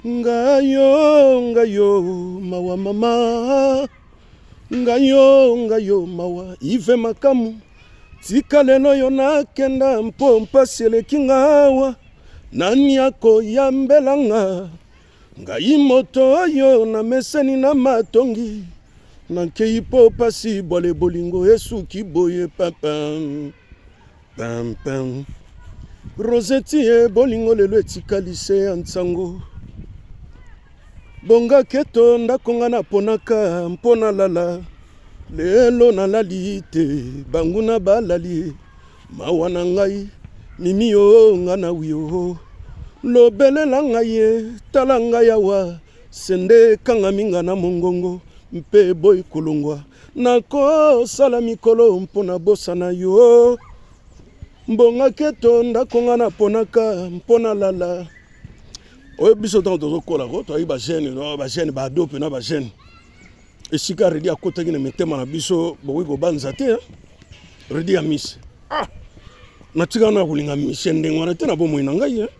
ngayo ngayo mawa mama ngayo ngayo mawa ive makamu tika lelo yo nakenda mpo mpasi eleki ngawa nani akoyambela nga ngai moto oyo nameseni na matongi nankei mpo mpasi bwale bolingo esuki boye papa Pam pam. Rosette ye bolingo lelo etikali se ya nsango. Bonga keto ndako nga naponaka mpo nalala. Lelo nalali te banguna balali mawa na ngai mimi yo nga na wio lobelela ngai ye tala ngai awa sende ekangami nga na mongongo mpe boyi kolongwa Nakosala mikolo mpo na bosana yo mbonga keto ndako nga naponaka mpo nalala oyo biso ntango tozokola ko toyaki bagene bagene baado mpe na bagene esika redi akotaki na mitema na biso bokoki kobanza te eh? redi ya misi ah! natika wana ya kolinga misi ndenge wana te na bomoi na ngai eh?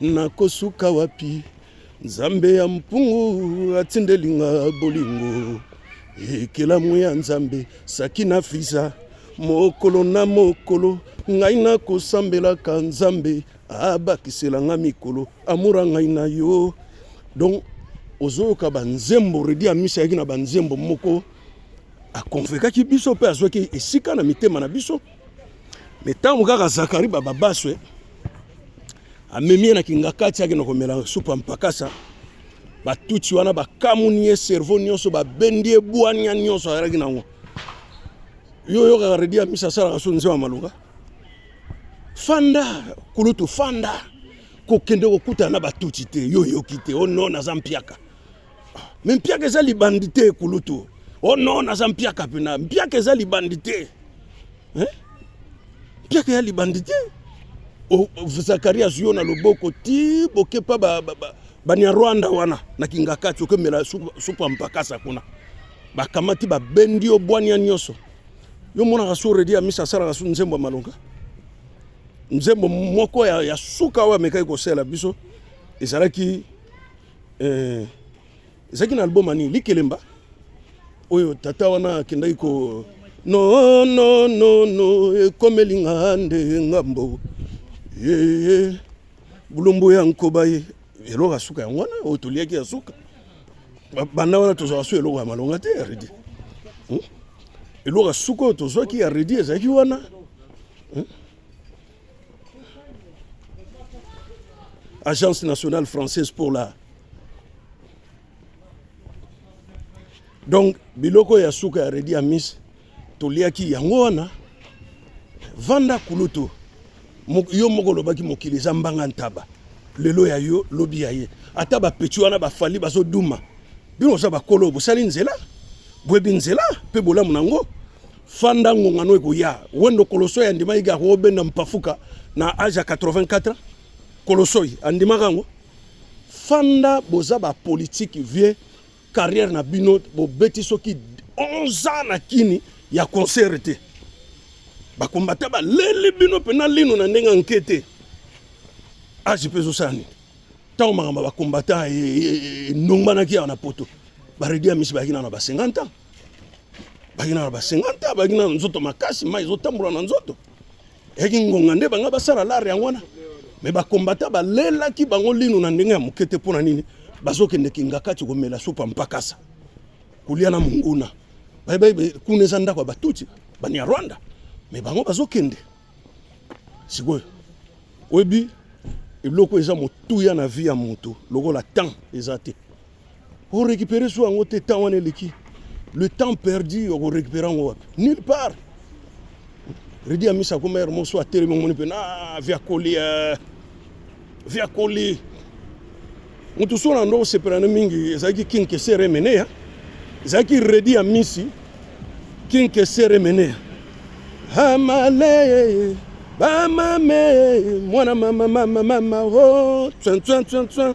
Nakosuka wapi? Nzambe ya mpungu atindeli nga bolingo ekelamu ya Nzambe saki na fiza mokolo na mokolo ngai nakosambelaka Nzambe abakisela nga mikolo amura ngai na yo donc ozoyoka banzembo redi amisi ayaki na banzembo moko akonvekaki biso mpe azwaki esika na mitema na biso me ntango kaka zakari bababaswe amemi ye na kingakati akenda komela supu ya mpakasa batutsi wana bakamuni ye cerveau nyonso babendi ye bwania nyonso azalaki nango yo oyokaka redi ya misa asalaka so nzema malonga fanda kulutu fanda kokende kokutana na batutsi te yo oyoki te o oh no naza mpiaka me mpiaka eza libandi te ekulutu o oh non naza mpiaka mpena mpiaka eza libandi te eh? mpiaka ya libandi te oh, oh, zakari azwi yo na loboko ti bokepa banyarwanda ba, ba, ba wana na kingakati okemela supu ya mpakasa kuna bakamati babendi yo bwania nyonso yo monaka so redi ya misa asalaka so nzembo ya malonga nzembo moko ya, ya suka oyo amekaki kosela biso ezalaki Eh, ezalaki na album ani likelemba oyo tata wana akendaki ko no no no no ekomeli nga nde ngambo yeye bulumbu ya nkoba ye eloko ya suka yango wana oyo toliaki ya suka banda wana tozwaka so eloko ya malonga te ya redi hmm? eloko ya suka oyo tozwaki ya redi ezalaki wana hmm? Agence nationale française pour la donc biloko ya suka ya redi amis toliaki yango wana vanda kulutu yo moko olobaki mokili eza mbanga ntaba lelo ya yo lobi ya ye ata bapeti wana bafali bazoduma bino oza bakolo bosali nzela boyebi nzela mpe bolamu na yango fanda ngonga no ekoya wendo kolosoi andimaki ga kobenda mpafuka na age ya 84 kolosoi andimaka yango fanda boza bapolitike vie carrière na bino bobeti soki 11 ans na kini ya concert te bakombata baleli bino mpena lino na ndenge anke te age mpe ezosala nini ntango makambo ya bakombata enongbanaki e, e, e, awa na poto baredi ya misi bayaki nano na ba 50 ans baki na ba 50 ans baki na nzoto makasi mai ezotambola na nzoto eyaki ngonga nde banga basala lare yango wana me bakombata balelaki bango lino na ndenge ya moke te mpo na nini bazokende kingakati komela supa mpakasa kolia na monguna bayebaye kuna eza ndako ya batuti banyarwanda me bango bazokende sikoyo oyebi eloko eza motuya na vie ya moto lokola temps eza te o récupérer su yango te temps wana eleki le temps perdu oko récupérer yango wapi nulle part redi amisi akoma ere mosu atelemi omoni mpe na via koli eh. via koli moto so na ndo osepela na mingi ezalaki king keser emeneya ezalaki redi ya misi king keser emeneya amale bamame mwana mama mama mama o oh, tsantsantsantsan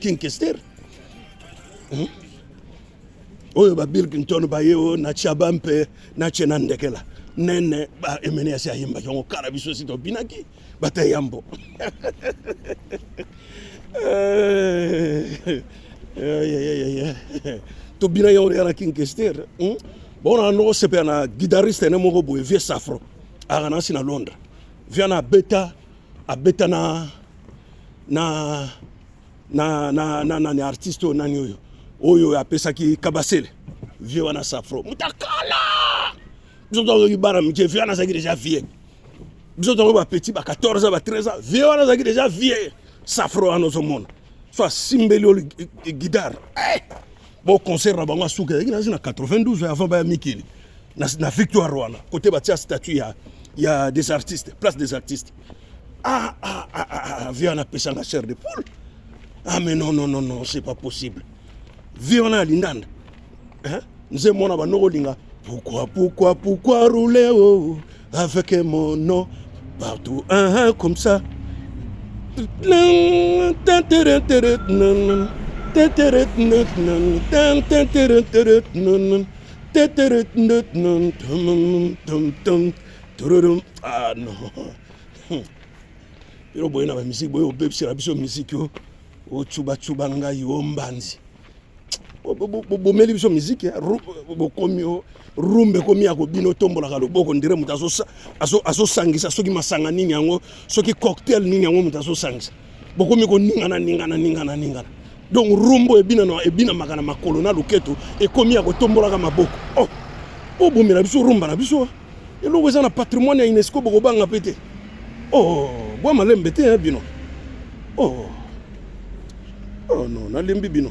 King Kester hmm? oyo ba Bill Clinton baye oyo na Chaba mpe na Chena Ndekela nene ba emene asi ayimbaki yango kala biso si tobinaki bata yambo eh, tobina yango ya na King Kester hmm? bona noko sepela na guitariste ne moko boye vieux Safro aka nasi na Londres viana abeta abeta na na na na na nani artiste oyo nani oyo oyo apesaki kabasele vie wana safro mutakala biso tozoki bana mike vie wana azalaki deja vie biso tongo bapetit ba 14 ans ba 13 ans vie wana azalaki deja vie safro wana ozomona so asimbeli yo gidare eh! Bon concert na bango asuka ezalaki nazi na 92 avant baya mikili na, na victoire wana kote batia statut ya, ya des artistes place des artistes ah, ah, ah, ah, ah, via napesanga chair de poule ah mais non non non non c'est pas possible vie wana ya lindanda eh? nze mwana banoko olinga pourquoi pourquoi pourquoi rouler oh, oh. Avec mon nom partout, hein, hein, comme ça. Ah non. Yo boye na ba musique boye obebisela biso musique yo. ocubacuba ngai o mbanzi bomeli biso miziki eh? bokomi oh, rumba ekomi ya kobina otombolaka loboko ndire moto azosangisa soki masanga nini yango soki cocktail nini yango moto azosangisa bokomi koningana ningana ningana ningana donc rumbo ebinana ebinamaka na makolo na loketo ekomi ya kotombolaka maboko oh, obomela biso rumba na biso eh? eloko eza na patrimoine ya unesco bokobanga mpe te oh bwa malembe te bino oh oh non nalembi bino